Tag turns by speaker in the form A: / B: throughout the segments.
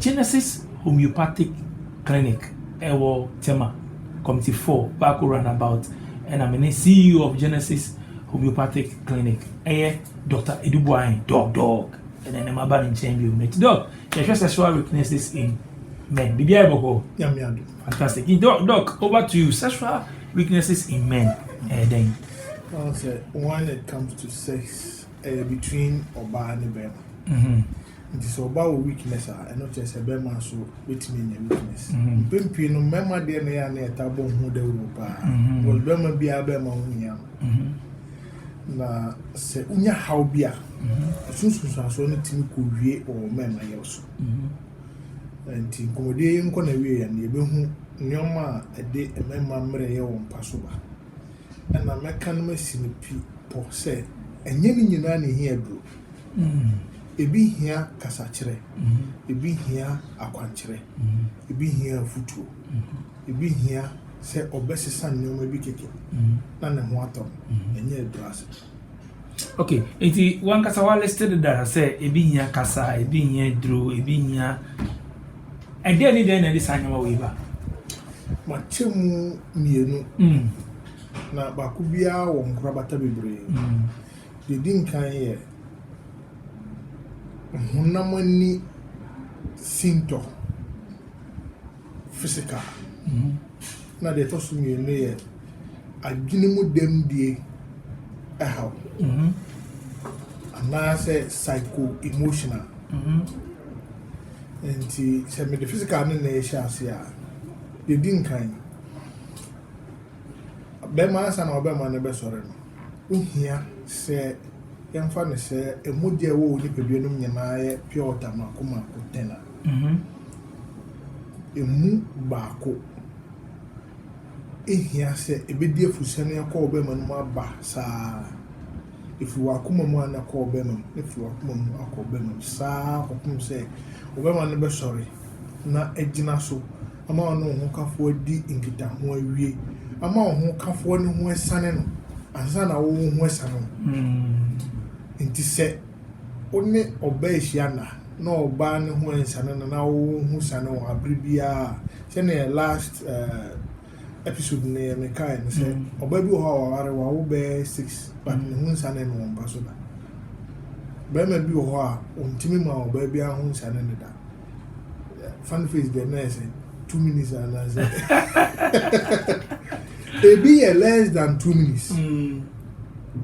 A: Genesis Homeopathic Clinic wɔ Tema, Committee Four, Baako Runabout, ɛna me ne CEO of Genesis Homeopathic Clinic ɛyɛ Doctor Edu Boahen, Doc Doc, ɛna ɛnɛ maba ne nkyɛn bio. Nti Doc, yɛhwɛ sexual weaknesses in men, biribi ayɛ bɔkɔ. Nyame ado. Fantastic. Nti Doc, Doc, over to you, sexual weaknesses in men, ɛyɛ dɛn? Ɔn sɛ, when it comes to sex, ɛyɛ between ɔbaa ne bɛɛma. Nti sɛ ɔbaa wɔ weakness a ɛno kyerɛ sɛ bɛɛma nso bɛtumi anya weakness. Mpɛn pii no mmɛɛma deɛ na ɛyɛ a na yɛtaa bɔ ho dawuro paa. Because bɛɛma biara bɛɛma ho hia no. Na sɛ wonya haw bi a, ɛso nsunsuansoɔ no tumi kɔwie wɔ mmɛɛma yaw so. Nti nkɔmmɔdie yi nkɔ n'awieeɛ no yɛbɛhu nneɛma a ɛde mmɛɛma mmerɛyɛ wɔ mpa so ba. Ɛna mɛka no masi no pi pɔ sɛ ɛnyɛ ne nyinaa na ɛhia aduro. Ebi hia kasakyerɛ, ebi hia akwankyerɛ, ebi hia afotuo, ebi hia sɛ ɔbɛsesa nneɛma bi kɛkɛ na ne ho atɔ no, ɛnyɛ ɛdɔ ase. Okay, nti wankasa wa list deda sɛ ebi hia kasa, ebi hia duro, ebi hia ɛdeɛ ne deɛ na ɛde saa nneɛma wei ba? Makyɛ mu mmienu, mm. na baako biara wɔ nkorabata bebree. Mm. Deɛ ɛdi nkan yɛ honam ani sintɔ, physical, ɛna deɛ ɛtɔ so mmienu yɛ adwene mu dɛmdie haw anaasɛ psycho-emotional. Nti sɛ mede physical no na ɛrehyɛ aseɛ a, deɛ ɛdi nkan, bɛma ansa na ɔbɛma no bɛsɔre no, wo hia sɛ yɛmfa no sɛ mogya ɛwɔ wo nipadua no mu nyinaa yɛ pure water mako mako ten a, mhm. emu baako ehia sɛ ebedi afusɛn akɔ wo bɛma no mu aba saa efi w'akoma mu ana kɔ wo bɛma mu efi w'akoma mu akɔ wo bɛma mu saa kɔpem sɛ wo bɛma no bɛsɔre na agyina so. ama ɔne wo hokafoɔ adi nkitaho awie ama wo hokafoɔ no ho asiane no ansa na wo wo ho asiane wo ho. Nti sɛ wo ne ɔbaa ahyia na na ɔbaa no ho ansiane no na wo wo ho siane wo ho a, bere biara a, sɛdeɛ last eh, episode no yɛ mekaeɛ no sɛ ɔbaa bi wɔ hɔ a waware wawo bɛyɛ six but ne ho nsiane no wɔ mpa so da. Barima bi wɔ hɔ a ɔntumi ma ɔbaa biara ho nsiane no da. fan face deɛ na ɛsɛ two minutes anaasɛ ebi yɛ less than two minutes mm.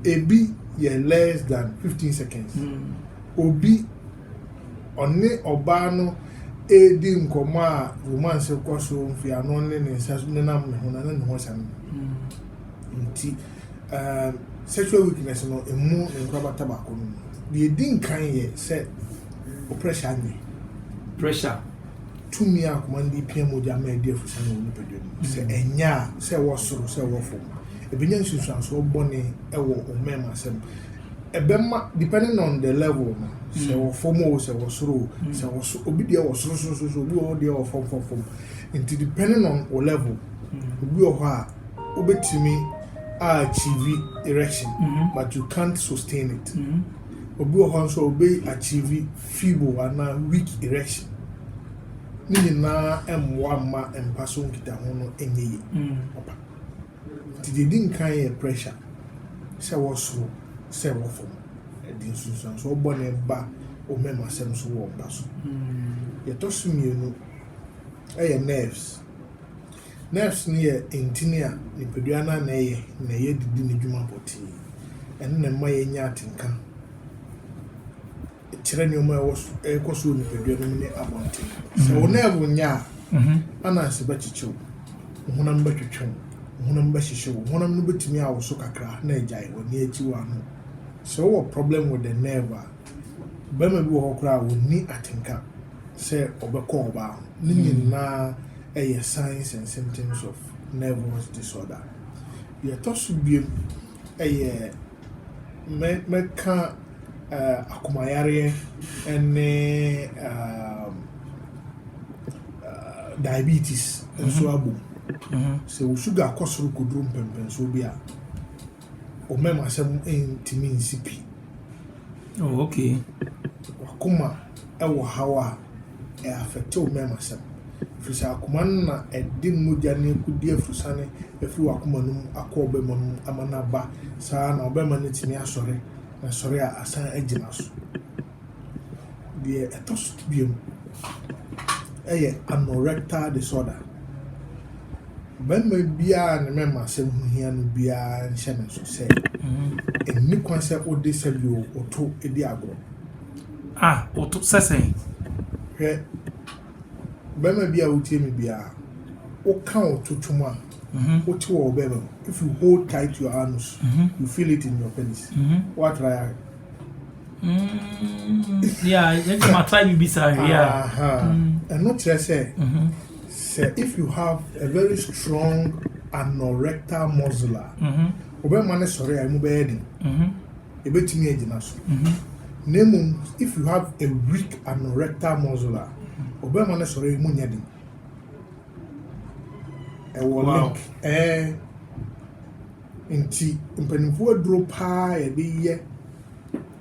A: ebi yɛ less than fifteen seconds mm. obi ɔne ɔbaa no edi nkɔmɔ a romance kɔ so mfiano ne ne nsa nenam ne ho na ne ne ho sɛm mm. nti sexual weakness no emu nkorabata baako no deɛ edi nkan yɛ sɛ. Wo pressure nye. Pressure. Tumi a akoma no de pia mogya ma ɛdi afusa no wɔ nipadua no mu. Sɛ mm. ɛnyɛ a, sɛ ɛwɔ soro, sɛ ɛwɔ fam. Ɛbɛnya nsunsuansoɔ bɔne wɔ wo mmarima asɛm. Ɛbɛma, depending on the level no, sɛ mm. wɔ fam o, sɛ wɔ soro o, mm. sɛ wɔ so, obi deɛ wɔ soro soro soro, obi wɔ hɔ deɛ wɔ fam fam fam. Nti depending on wo level, obi wɔ hɔ a, wobɛtumi a achieve erection, mm-hmm. but you can't sustain it. Mm-hmm. Obi wɔ hɔ nso a obe achieve feeble anaa weak erection. Ne nyinaa mmoa mma mpa so nkitaho no nyɛ yie papa. Nti deɛ ɛdi nkan yɛ pressure, sɛ wɔ soro, sɛ wɔ fam. Ɛde nsunsuansoɔ bɔne ba omemasɛm so wɔ mpa so. Deɛ ɛtɔ so mmienu yɛ nerves. Nerves no yɛ ntini a nipadua no ara na ɛyɛ na ɛyɛ de di ne dwuma pɔtee. Ɛno na ɛma yɛnya atenka kyerɛ nneɛma a ɛwɔ so ɛrekɔ so wɔ nipadua no mu ne abɔnten. Sɛ wo nerve nyɛ a, ananse bɛkyekye wo, wo honam bɛtwetwe wo, wo honam bɛhyehye wo, honam no bɛtumi awoso kakra na agyae, w'ani akyi, w'ano. Sɛ wowɔ problem with the nerve a, Barima bi wɔ hɔ koraa a ɔnni atenka sɛ ɔbɛkɔ ɔbaa ho. Ne nyinaa yɛ signs and symptoms of nervous disorder. Deɛ ɛtɔ so biom yɛ mɛ mɛka eh, akomayareɛ ne um, uh, diabetes nso abom. Sɛ wo sugar kɔ soro kɔduru mpɛmpɛnsoɔ bi a, Ɔmam asɛm ntumi nsi pi. Oh okay. Wakoma wɔ haw a ɛ affect wo mɛm asɛm. Firi sɛ akoma no na ɛde mogya ne akudi afurusane afiri wakoma no mu akɔ ɔbɛma no mu ama no aba saa na ɔbɛma no atumi asɔre na sɔre a asan agyina so. Deɛ ɛtɔ so mmienu yɛ anorectal disorder. Barima biara a ne mmarima asɛm ho hia no biara nhyɛ ne nso sɛ ɛnni kwan sɛ wode sɛdeɛ ɔto di agorɔ. Ah, ɔto sɛ sɛn? Hwɛ, barima bi a wotie me biara, woka ɔto twom a, wote wɔ wo bɛrima mu. If you hold tight your anus, you feel it in your penis. Woatra yɛ ahwɛ. ɛno kyerɛ sɛ sɛ if you have a very strong anorectal muscle a wobɛma no sɔre a ɛmu bɛyɛ den ɛbɛtumi agyina so na mmom if you have a weak anorectal muscle a wobɛma no sɔre a ɛmu nyɛ den ɛwɔ link ɛɛ Nti mpaninfoɔ aduro paa a yɛde yɛ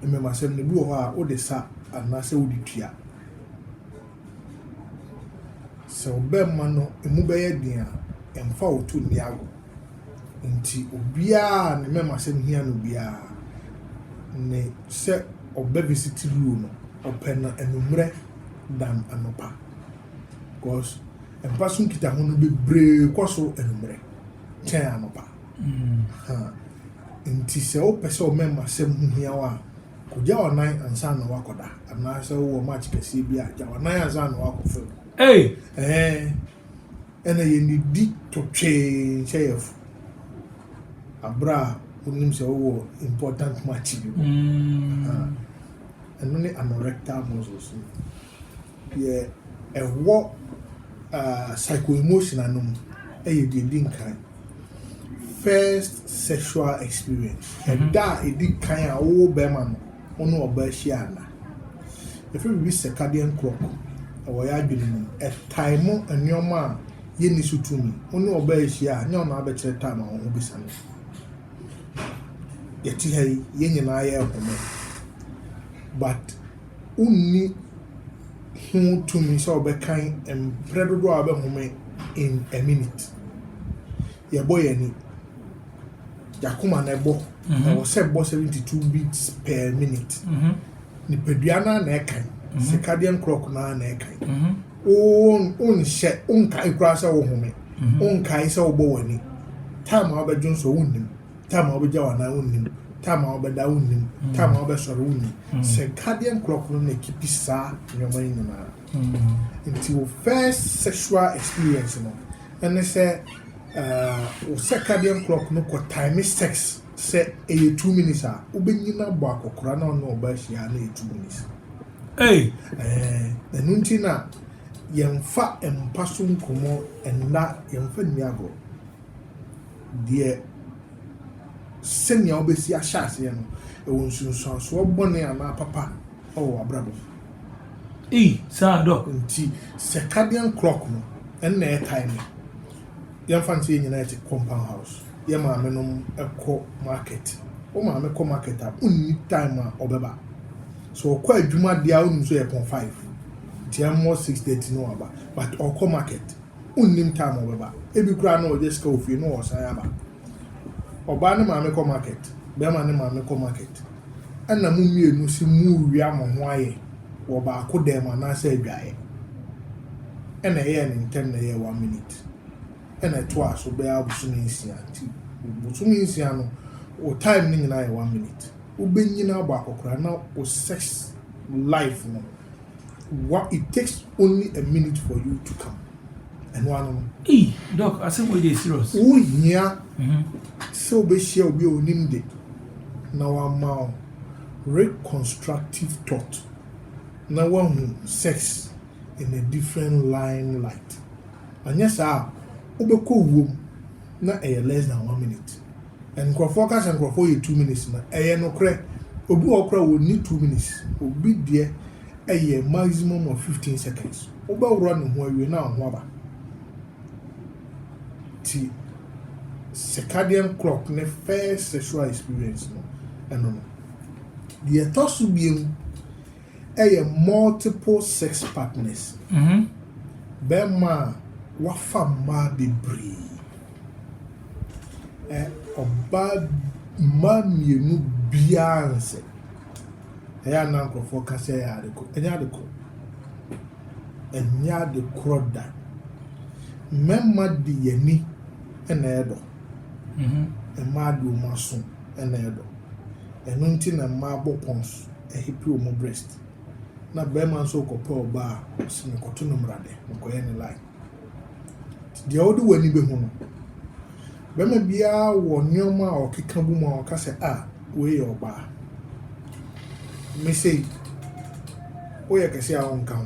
A: mmɛmasɛm no bi wɔ hɔ a wode sa anaasɛ wode tua. Sɛ wo bɛma no ɛmu bɛyɛ den a ɛmfa wo to nni agorɔ. Nti obiara a ne mmɛmasɛm hia no biara ne sɛ ɔbɛ visit loo no ɔpɛ no anwummerɛ than anɔpa. Because mpa so nkitaho no bebree kɔ so anwummerɛ. kyɛn anɔpa. Enti sɛ wopɛ sɛ wo mɛmasɛm ho hia wo a, kogya w'anan ansa na woakɔda, anaasɛ wowɔ match kɛseɛ bi a, gya w'anan ansa na woakɔ fam. Ei! Ɛɛ, ɛna yɛnnidi totwee nhyɛ yɛn fo aberɛ a wonim sɛ wowɔ important match bi mu. Mm. Ɛno ne anorectal muscles no. Deɛ ɛwɔ psycho-emotional no mu yɛ deɛ ɛdi nkan, first sexual experience, ɛda a ɛdi kan a wo barima no wo ne ɔbaa hyia nna. Yɛfrɛ biribi circadian clock wɔ yɛn adwene mu, ɛtime nneɛma a yɛnni so tumi. Wo ne ɔbaa rehyia a, nyɛ wo na wobɛkyerɛ time a wo ho bɛsiane. Yɛte ha yi, yɛn nyinaa yɛrehome but wonni ho tumi sɛ wɔbɛkan mprɛ dodoɔ a wobɛhome in a minute. Yɛbɔ yɛn ani, yɛakoma na ɛbɔ, mhm. ɛwɔ sɛ ɛbɔ seventy two beats per minute. Mhm. Nipadua no na ɛkan, mhm. circadian clock no na ɛkan. Wonhyɛ, wonkae koraa sɛ wohome, wonkae sɛ wobɔ w'ani. Time a wobɛdwo nso wonnim. Time a wobɛgya w'anan wonnim. Time a wobɛda wonnim. Mm. Time a wobɛsɔre wonni. Mm. Circadian clock no na ɛkipi saa nneɛma yi nyinaa. Mm. Nti wo first sexual experience no ɛne sɛ uh, wo circadian clock no kɔ time sex sɛ ɛyɛ two minutes a wobɛnyina bɔ akɔkora na ɔne ɔba ahyia na ɛyɛ two minutes. Eh, ɛno nti na yɛmfa mpa so nkɔmmɔ ɛnna yɛmfa nni agorɔ. deɛ sɛnea wobɛsi ahyɛ aseɛ no, ɛwɔ nsunsuansoɔ bɔne anaa papa wɔ w'abrabɔ mu. Ei, saa dɔ. Nti circadian clock no, ɛno na ɛyɛ timing. Yɛmfa no sɛ yɛn nyinaa te compound house, yɛn maame nom kɔ market. Wo maame kɔ market a, wonni time a ɔbɛba. So ɔkɔ adwuma deɛ a, wonim sɛ ɔyɛ pɔn five, nti ɛmmɔ six thirty na waba, but ɔkɔ market. Wonnim time a ɔbɛba. Ebi koraa na ɔgye sika wɔ fie na ɔresan aba. Ɔbaa ne maame kɔ market, bɛrima ne maame kɔ market, ɛna mo mmienu se morewia mo ho ayɛ wɔ baako dan mu anaasɛ adwaeɛ. Ɛna ɛyɛɛ no ntɛm na ɛyɛɛ one minute. Ɛna ɛtoaa so bɛyɛ abosome nsia. Nti bosome nsia no, wo time no nyinaa yɛ one minute. Wobɛnyini abɔ akɔkora na wo sex life no. Wa it takes only a minute for you to come ɛno ara no no. Ei doc asɛm wei deɛ serious. Wo hia sɛ wo bɛ hyia obi a onim de na wa ma wo reconstructive thought na wa hu sex in a different line light anyɛ saa a wo bɛ kɔ wuo mu. na ɛyɛ less than one minute and nkorɔfoɔ ka sɛ nkorɔfoɔ yɛ two minutes no ɛyɛ nokorɛ obi wɔ hɔ koraa wɔnni two minutes obi deɛ ɛyɛ maximum of fifteen seconds wobɛworɔ ne ho awie na ho aba ti circadian clock ne first sexual experience no ɛno no deɛ ɛtɔ so biemu. yɛ multiple sex partners, bɛrima a wafa mmaa bebree, ɛ, ɔbaa, mmaa mmienu biara nsɛ. Ɛyɛ a na nkurɔfoɔ ka sɛ ɛyɛ ade korɔ. Ɛnyɛ ade korɔ. Ɛnyɛ ade korɔ da. Mmarima de yɛn ani na ɛyɛ dɔ. Mmaa de wɔn aso na ɛyɛ dɔ. Ɛno nti na mmaa bɔ pɔn so. Ehipi wɔn breast na bɛrima nso rekɔpɛ ɔbaa a ɔse mekɔto no mmara dɛ mekɔyɛ ne line nti deɛ wode w'ani bɛhu no bɛrima biara wɔ nneɛma a ɔkeka bu mu a ɔka sɛ a wei yɛ ɔbaa mesei woyɛ kɛse a wonka ho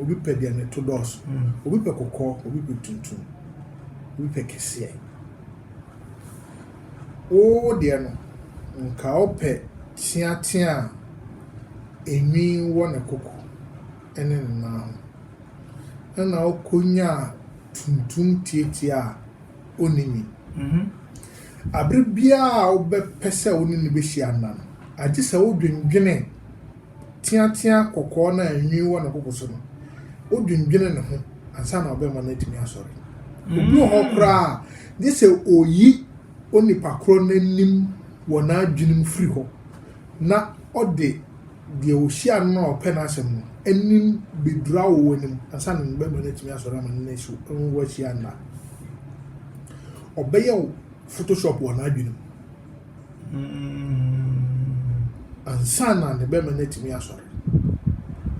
A: Obi pɛ deɛ ne to dɔɔso. Obi pɛ kɔkɔɔ, obi pɛ tuntum, obi pɛ kɛseɛ. Wo deɛ no, nka wopɛ teatea a enwi wɔ ne koko ne ne nan ho. Ɛnna wokɔnyaa tuntum teatea a ɔnni nwi. Bere biara a wobɛpɛ sɛ wo ne no bɛhyia nna no, agye sɛ wodwendwene teateaa kɔkɔɔ no a nwi wɔ ne koko so no, odwendwene ne ho ansa na ɔbɛma no atumi asɔre. Obi wɔ hɔ koraa a, gye sɛ oyi onipa korɔ no anim wɔ n'adwene mu firi hɔ na ɔde deɛ ɔhyia no no a ɔpɛ n'asɛm no anim bɛduru awoɔ no mu ansa na ne bɛma no atumi asɔre ama no no so nwahyia nna. Ɔbɛyɛ wo Photoshop wɔ n'adwene mu. Ansa na ne bɛma no atumi asɔre.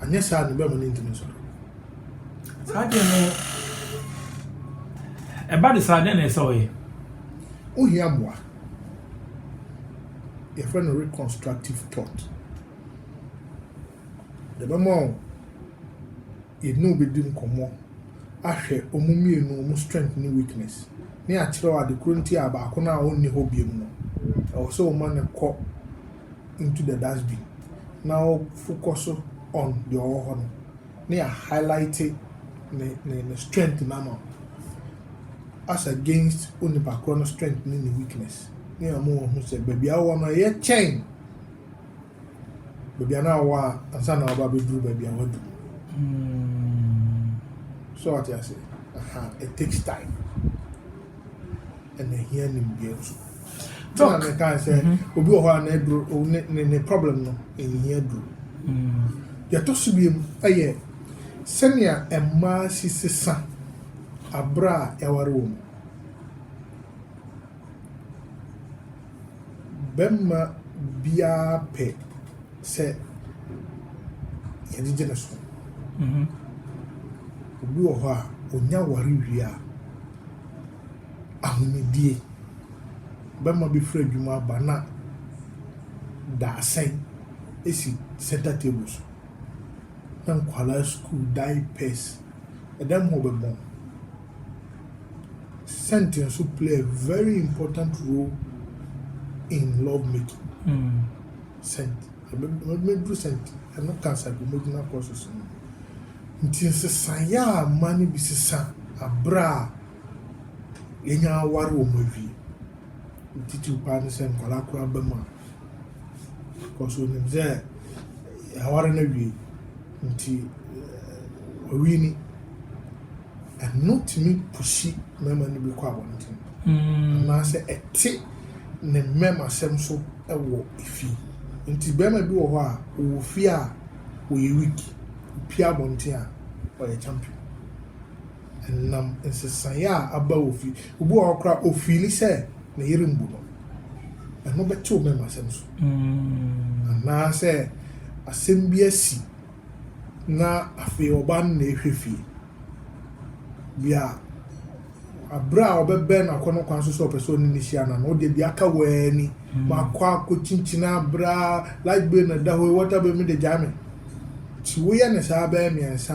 A: Anyɛ saa a, ne bɛma no ntumi nsɔre. Saa adeɛ no, ɛba de saa, dɛn na ɛsɛ ɔyɛ? Wohia mmoa. Yɛfrɛ no reconstructive thought. Deɛ ɛbɛma wo yɛne wo bɛdi nkɔmmɔ ahwɛ wɔn mmienu wɔn strength ne weakness ne akyerɛ wo ade korɔ nti a baako no a ɔnni hɔ biom no ɛwɔ sɛ wo ma no kɔ into the dustbin na wo fokɔso on deɛ ɔwɔ hɔ no na yɛ highlighte ne ne ne strength no ama wo as against wo nipa korɔ no strength ne ne weakness ne ama wɔn ho sɛ baabi a wowɔ no ɛyɛ kyɛn. baabi a na ɔwɔ a ansa na waba abɛduru baabi a wadu so ɔte ase aha it takes time ɛna ɛhia nimdeɛ nso so na meka sɛ mm-hmm. obi wɔ hɔ a na aduro ne ne problem no ɛnyia aduro mm. yɛtɔ so biam ɛyɛ sɛnea mmaa si sesa abere a yɛaware wɔ mu Bɛma biaa pɛ sɛ yɛgyegye no so. Obi wɔ hɔ a ɔnya ware wie a, ahomidie, bɛma bi firi adwuma aba na daasɛn si center table so, na nkwadaa sukuu diapers, ɛda mu a ɔbɛbɔ. scent nso play a very important role in love making. Mm. Scent. Mɛduru scent. Ɛno ka psychomotional process no. Nti nsesaeɛ a mma no bi sesa aberɛ a yɛnya aware wɔ mu awie. Titiw paa ne sɛ nkwadaa koraa ba mu a. Because onim sɛ aware no awie. Nti ɔwi ni. Ɛno tumi pushi mmarima no bi kɔ abɔnten anaasɛ ɛte ne mmɛmasɛm so wɔ fi. Nti barima bi wɔ hɔ a, ɔwɔ fie a, ɔyɛ weak. Ɔpue abɔnten a, ɔyɛ champion. Ɛnam nsesaeɛ a aba wɔ fie. Obi wɔ hɔ koraa, ɔfiili sɛ ne yere mbu no. Ɛno bɛte wo mmɛmasɛm so. Anaasɛ asɛm bi asi. na afei ɔbaa no na ɛrehwɛ fie. Deɛ aberɛ a ɔbɛbɛn no akɔnnɔ kwan so sɛ ɔpɛ sɛ ɔne no hyia no no, wodeɛ deɛ aka wɔn ani. Hmm. Makɔ akɔkyinkyini aberɛ a light bill na ɛda hɔ yi, water bill mi de gyae me. Nti woyɛ ne saa bɛyɛ mmiɛnsa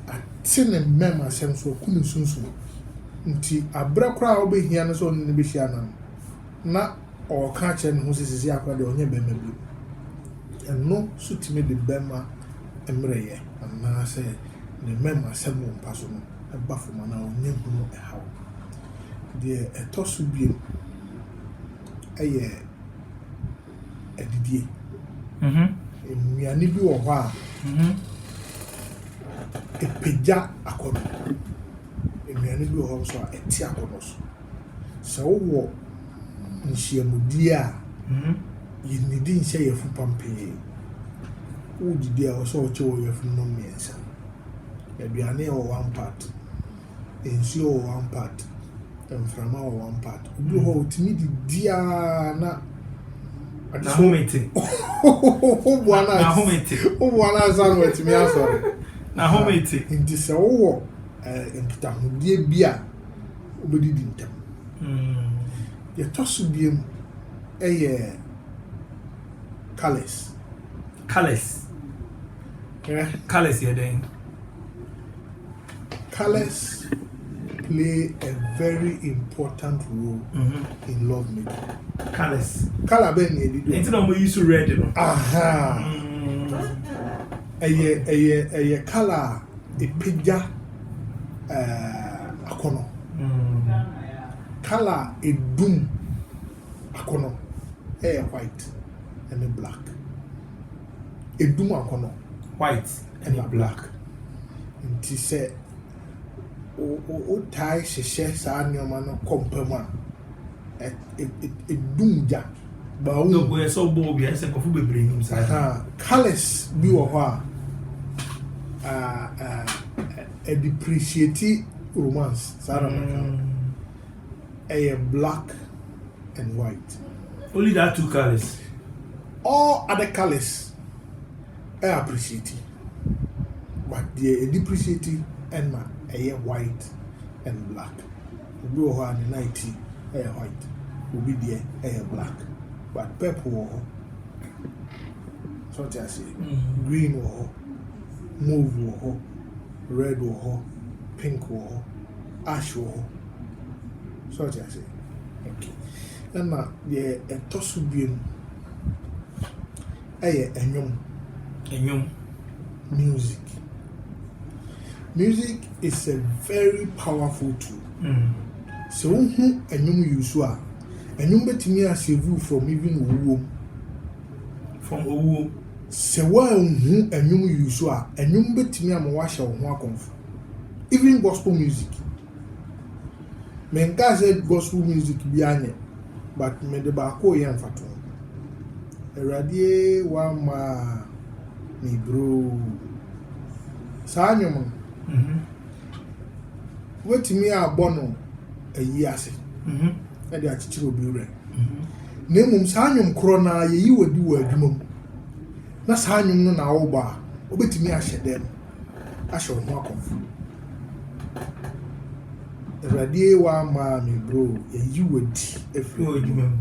A: a, ate ne mmɛm asɛm so, aku ne sunsum. Nti aberɛ koraa a wobɛhia no sɛ ɔne no bɛhyia no no, na ɔreka kyerɛ ne ho sɛ sisi akora deɛ ɔnyɛ bɛrima bio. Ɛno nso tumi de bɛrima mmerɛyɛ anaa sɛ ne mmarima sɛm wɔ mpa so no ba fam anaa ɔnya hunu haw. Deɛ ɛtɔ so bio ɛyɛ adidie. Mm -hmm. Nnuane bi wɔ hɔ a mm -hmm. ɛpagya akɔnɔ. Nnuane bi wɔ hɔ nso a ɛte akɔnɔ so. Sɛ wowɔ nhyiamudie a yɛnnidi nhyɛ yafupam pii. Wodidi a, ɛwɔ sɛ ɔkye wɔ yafunu nom mmiɛnsa. Aduane wɔ one part, nsuo wɔ one part, mframa wɔ one part. Obi wɔ hɔ a, ɔtumi didi ara na N'ahome te. woboa no N'ahome te. woboa no ansa na watumi asɔre. N'ahome te. Nti sɛ wowɔ eh, nkitahodie bi a, wɔbɛdidi ntɛm. Deɛ ɛtɔ so biemu yɛ colours. Colours. Hwɛ. Colours yɛ dɛn? Colours play a very important role mm -hmm. in love making. Colours. Colour bɛn na ɛdidi. Ɛnti na wɔn yi so red no. Aha. Mm. Ɛyɛ ɛyɛ ɛyɛ colour a ɛpagya. eh, akɔnɔ. Mm. Color a edum akɔnɔ ɛyɛ white ɛne black. Edum akɔnɔ. White ɛne black. Nti sɛ wotae hyehyɛ saa nneɛma no kɔ mpa mu a, edum gya. Colours bi wɔ hɔ a ɛ depreciate romance saa na mɛka no. Ɛyɛ black and white. Only that two colours. All other colours ɛ appreciate but deɛ ɛ depreciate ɛna ɛyɛ white and black. Ebi wɔ hɔ a ne nan ti yɛ white, obi deɛ yɛ black but purple wɔ hɔ. So ɔte aseɛ? Mm-hmm. Green wɔ hɔ, move wɔ hɔ, red wɔ hɔ, pink wɔ hɔ, ash wɔ hɔ. So ɔte aseɛ? Okay. Ɛna deɛ ɛtɔ so biom ɛyɛ ɛnwom. Ɛnwom. Music. Music is a very powerful tool. Mm. Sɛ wohu ɛnwom yi so a, ɛnwom bɛtumi asave you from even owuo mu. From owuo. Sɛ woanhu ɛnwom yi so a, ɛnwom bɛtumi ama woahyɛ wo ho akɔmfo. Even gospel music. Menkaa sɛ gospel music biaa nyɛ but mede baako reyɛ mfatoho. Awurade ee wamma me broo. Saa nnwom no, mm-hmm. wobɛtumi abɔ no ayi ase mm-hmm. ɛde akyekyere obi werɛ. Mm-hmm. Na mmom saa nnwom korɔ no ara yɛyi wadi wɔ adwuma mu na saa nnwom no na awobɔ a wobɛtumi ahyɛ dɛm. ahyɛ wo ho akɔm. Awurade ee w'amaa me bro yɛyi wo adi ɛfiri wɔ adwuma mu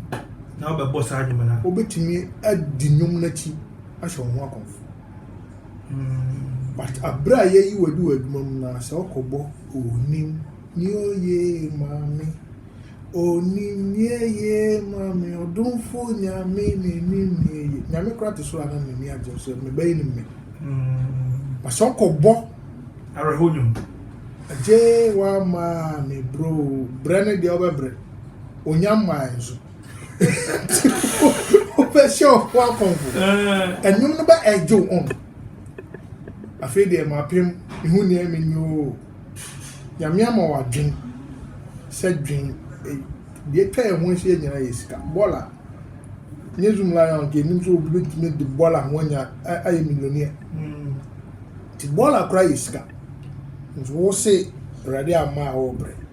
A: na wobɛbɔ saa adwuma no wobɛtumi adi nnwom no akyi ahyɛ wo ho akɔm but aberɛ a yɛyi wo adi wɔ adwuma mu no sɛ wokɔbɔ onim ne oyee maame Onim neɛ yee ma me ɔdomfo nyame n'anim neɛ yee nyame kora te so a na m'ani agye nso me bɛyɛ nim me na sɛ ɔkɔ bɔ awerɛho nwom agye wa ma me bro brɛ ne deɛ ɔbɛbrɛ onya mmaa nso wobɛhyɛ ɔfo akɔmfo ɛnwom no bɛ ɛgye wo ɔn afei deɛ mapem mehu neɛ menyɛ oo Nyame ama wo adwen sɛ dwen deɛ atwa yɛn ho ahyia nyinaa yɛ sika bɔɔla nyɛ zoom lion deɛ nim sɛ obi bɛtumi de bɔɔla ho anya ayɛ millionaire nti bɔɔla koraa yɛ sika nti wo se awurade ama a wɔbrɛ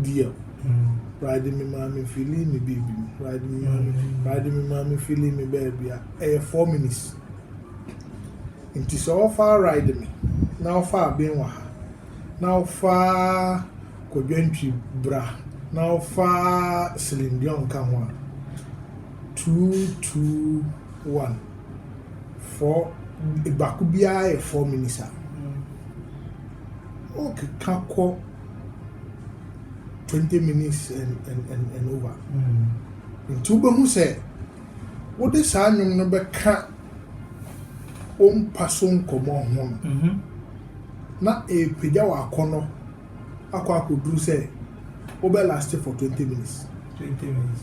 A: dear Pride me maame feeling me baby me Pride me maame Pride me maame feeling me baby a ɛyɛ four minutes nti sɛ ɔfa ride me na ɔfa aben wɔ ha na ɔfa kɔdwantwi bra na ɔfa silindiɔn nka ho a two two one four baako biara yɛ four minutes a ɔkeka kɔ. twenty minutes and and and and over nti wobɛhu sɛ wode saa nnwom no bɛka wo mpa so nkɔmmɔ ho no mm-hmm. na ɛrepagya wɔ akɔnnɔ akɔ akɔduru sɛ wobɛ last for twenty minutes. twenty minutes.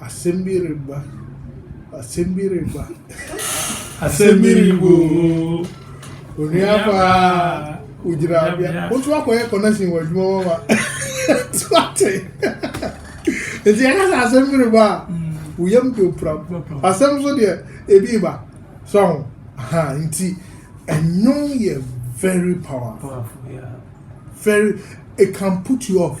A: Asɛm bi reba, asɛm bi reba, asɛm bi reba oo. Onua paa, ogyina bea. Wotu akɔyɛ connection wɔ adwuma hɔ ma. Tu ate. Nti yɛka sɛ asɛm bi reba a, wo yam de opira. Asɛm nso deɛ, ebi reba. So ho. Ha, nti, ɛnwom yɛ very powerful. Very, it can put you off.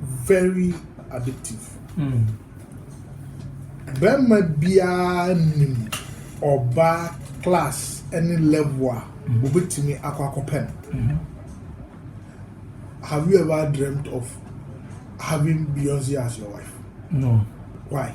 A: very addictive. Mm. Bɛrima biara nim ɔbaa class ne level a mm. obetumi akɔ akɔpɛ no. Mm-hmm. Have you ever dreamt of having Beyonce as your wife? No. Why?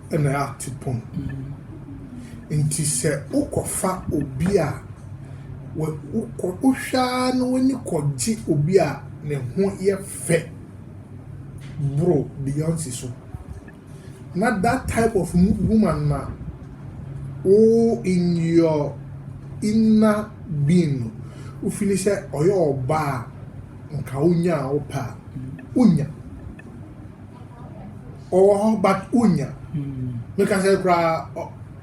A: na atu pon. Enti sɛ wokɔfa obi a, wohwɛ ara na w'ani kɔgye obi a ne ho yɛ fɛ boro Beyonce so. Na that type of woman na wo in your inner being no, wo fili sɛ ɔyɛ ɔbaa a nka wonya a wopɛ a, wonya. Ɔwɔ hɔ but wonnya. Meka sɛ koraa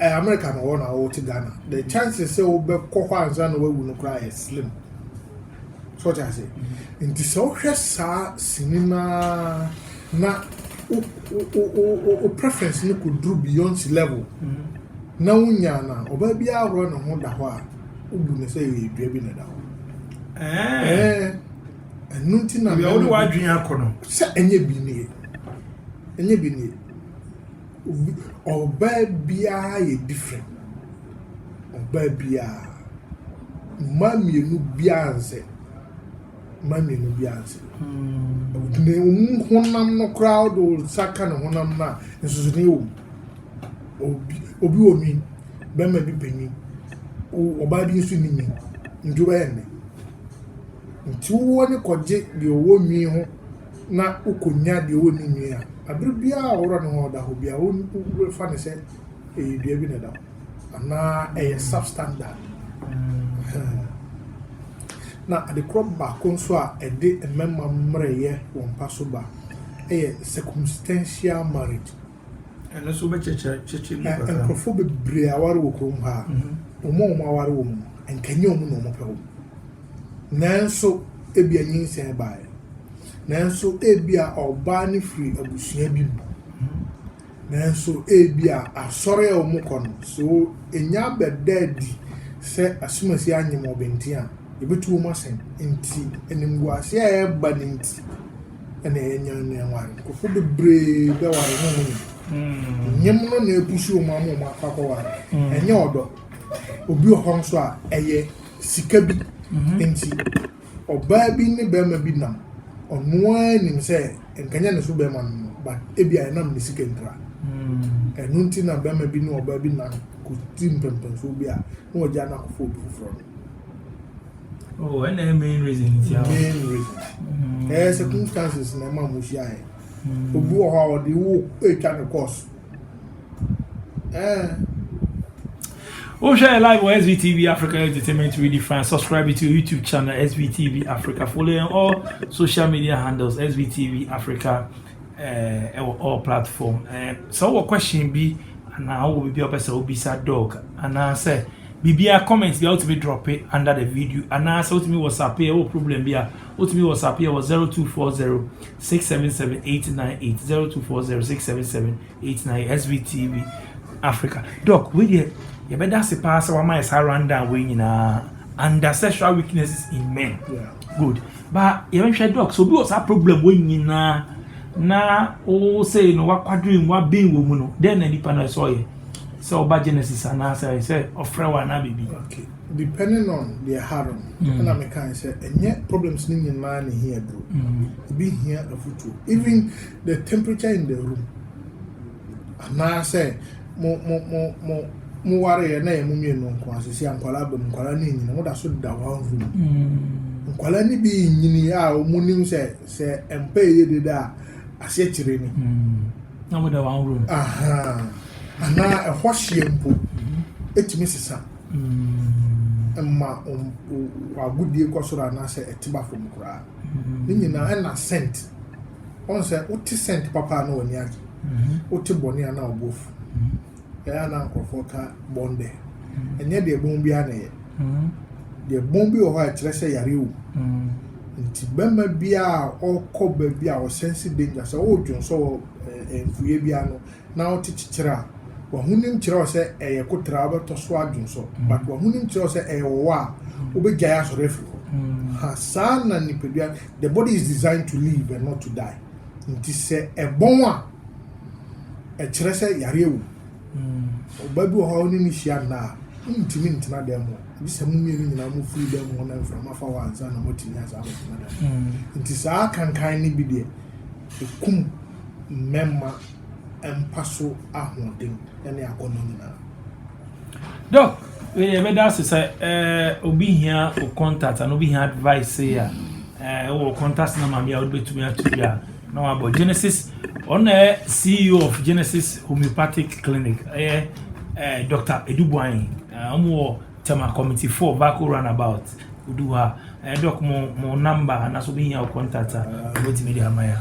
A: ɛyɛ America na ɔwɔ na ɔte Ghana. The chances sɛ wobɛkɔ hɔ ansa na wawu no koraa yɛ slim. So ɔte ase. Nti sɛ wohwɛ saa sini no ara na wo preference no kɔduru Beyonce level na wonya no a, ɔbaa biara hɔ ne ho da hɔ a, wobu no sɛ yɛ dua bi na ɛda hɔ. Eh. Eh. ɛno nti na mɛ wode w'adwene akɔ no sɛ ɛnyɛ bi nie ɛnyɛ bi nie ɔbaa biara yɛ different ɔbaa biara mmaa mmienu biara nsɛ mmaa mmienu biara nsɛ hmm. na emu honam no koraa wode wo nsa ka ne honam no a nsusuni wɔ mu obi obi wɔ nwi bɛrima bi pɛ nwi ɔbaa bi nso ni nwi nti wobɛyɛ nnɛ Ntsi wo w'enyi kɔgye deɛ ɔwɔ nwi ho na wokonya deɛ ɔnni nwi a, aber biara a ɔwora no ho a ɔda hɔ biara worefa no sɛ ɛyɛ dua bi na ɛda hɔ anaa ɛyɛ substandard. Na adekorɔ baako nso a ɛde mmarima mmerɛyɛ wɔ mpa so ba yɛ circumstantial marriage. Ɛno nso wobɛkyerɛkyerɛ kyerɛkyerɛ mu kakra. Na nkurɔfoɔ bebree aware wɔ kurom ha a, wɔn a wɔaware wɔ mu no, anka ɛnyɛ wɔn na wɔpɛ wɔn. Nanso, ebia nyinsɛn baeɛ. Nanso, ebia ɔbaa no firi abusua bi mu. Nanso, ebia asɔre a wɔkɔ no, sɛ wɔnya abɛda adi sɛ asomasi anyem wɔn bɛnten a, yɛbɛtu wɔn asɛn. Enti, animguaseɛ a ɛreba no nti, na yɛanya no anware. Nkurɔfoɔ bebree bɛware ne mu no. Nyem no na ɛpusu wɔn ama wɔn akɔ akɔware. Ɛnyɛ ɔdɔ. Obi wɔ hɔ nso a, ɛyɛ sika bi nti. Ɔbaa bi ne barima bi nam. Ɔno ara nim sɛ nkanyɛ ne so barima no no, but ebia ɛnam ne sika nti a, ɛno nti na barima bi ne ɔbaa bi nam kɔdi mpɛmpɛnsoɔ bi a, na wɔagyaa no akɔfa obi foforɔ no. Oh, and the main reason is your main reason. Mm. Eh, circumstances na ma mushia eh. Mm. Obi wɔ hɔ a ɔde wo atwa ne course. Eh. Oh, share live on SVTV Africa Entertainment Really Fine. Subscribe to YouTube channel SVTV Africa. Follow on all social media handles SVTV Africa. ɛwɔ all platform sɛ wowɔ question bi anaa wowɔ biribi a wopɛ sɛ wobisa dog anaasɛ biribiara comment bia wotumi drop it under the video anaasɛ wotumi whatsapp yɛ wɔ problem bi a wotumi whatsapp yɛ wɔ 0240 677 898 0240 677 898 svtv africa dog wei deɛ yɛbɛda ase paa sɛ wama yɛ saa rundown wei nyinaa under sexual weaknesses in men yeah. good Ba yɛnhwɛ dɔks obi wɔ saa problem wei nyinaa na wo sei no wakwadwene mu waben wɔ mu no dɛn na nipa no ɛsɛ ɔyɛ sɛ ɔba genesis anaasɛ ɛyɛ sɛ ɔfrɛ wɔ anaa biribi okay depending on deɛ ha no mm. na meka sɛ ɛnyɛ problems no nyinaa ne hia duro mm. ebi hia afutuo even the temperature in the room Anaasɛ mo mo mo mo mo wareɛ na yɛ mo mmienu nko ara sisi a nkwadaa abam nkwadaa no nyini mo da so da hɔ ahu mu mm. nkwadaa no bi nyini a wɔn nim sɛ sɛ mpa yɛ deda a aseɛ kyerɛ ni. Mm. na mo da wɔn room. anaa ɛhɔ hyeɛ mpo mm-hmm. etumi sesa mma wɔn agodie kɔ soro anaasɛ ɛte ba fam koraa ne nyinaa ɛna scent. Ɔn sɛ wo te sɛnt papa a na w'ani agye, wo te bɔne a na wo bo afu. Ɛyɛ a na nkorɔfoɔ ka bɔn dɛ, ɛnyɛ deɛ bɔn biara na ɛyɛ. Deɛ bɔn bi wɔ hɔ a ɛkyerɛ sɛ yareɛ wɔ mu. Nti bɛma biara a ɔɔkɔ baabi a ɔsɛnse danger, sɛ ɔɔdwonsɔ wɔ mfuiɛ biara no, na wote kyekyere a, w'ahonim kyerɛ wo sɛ ɛyɛ kotra a wobɛtɔ so adwonsɔ, but w'ahonim kyerɛ wo sɛ ɛyɛ ɔwɔ a, wobɛgyae asɔre afiri hɔ. Ha, saa na nipadua, the body is designed to live and not to die. Nti sɛ ɛbɔn a, ɛkyerɛ sɛ yareɛ wom. Ɔbaa bi wɔ hɔ a wo ne no hyia nna a, wontumi ntena dan mu hɔ, gye sɛ mo mmienu nyinaa mofiri dan mu hɔ na mframa fa hɔ ansa na moatumi asan abɛtena dan mu. Nti saa kankan no bi deɛ, ɛkum mmɛmma. mpa so ahoɔden ne akɔnnɔ nyinaa. Doc, wei deɛ ɛbɛda ase sɛ eh, obi hia o contact anaa obi hia advice sei a eh, wɔ contact number bi a wode bɛtumi ato bi a na wabɔ Genesis ɔno na ɛyɛ CEO of Genesis Homeopathic Clinic ɛyɛ eh, Dr. Edubuan eh, wɔn wɔ Tema Committee 4 Vako Runabout odu hɔ a eh, Doc mo mo number anaasɛ obi hia o contact a wobɛtumi de ama yɛ a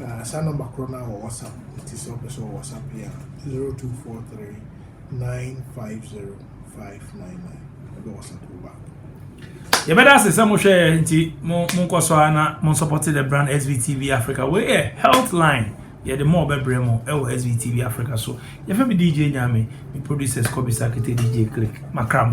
A: Na saa number korɔ no a wɔ WhatsApp nti sɛ ɔpɛ sɛ ɔwɔ WhatsApp yɛ a zero two four three nine five zero five nine nine ɛbɛ WhatsApp wo back. yɛbɛda ase sɛ mohwɛɛ nti monkɔ so a na monsupporte the brand svtv africa wei yɛ health line yɛde ma ɔbɛbrɛ mu ɛwɔ svtv africa so yɛfɛ me dj nyame me producers kɔbisa kete dj click makra mo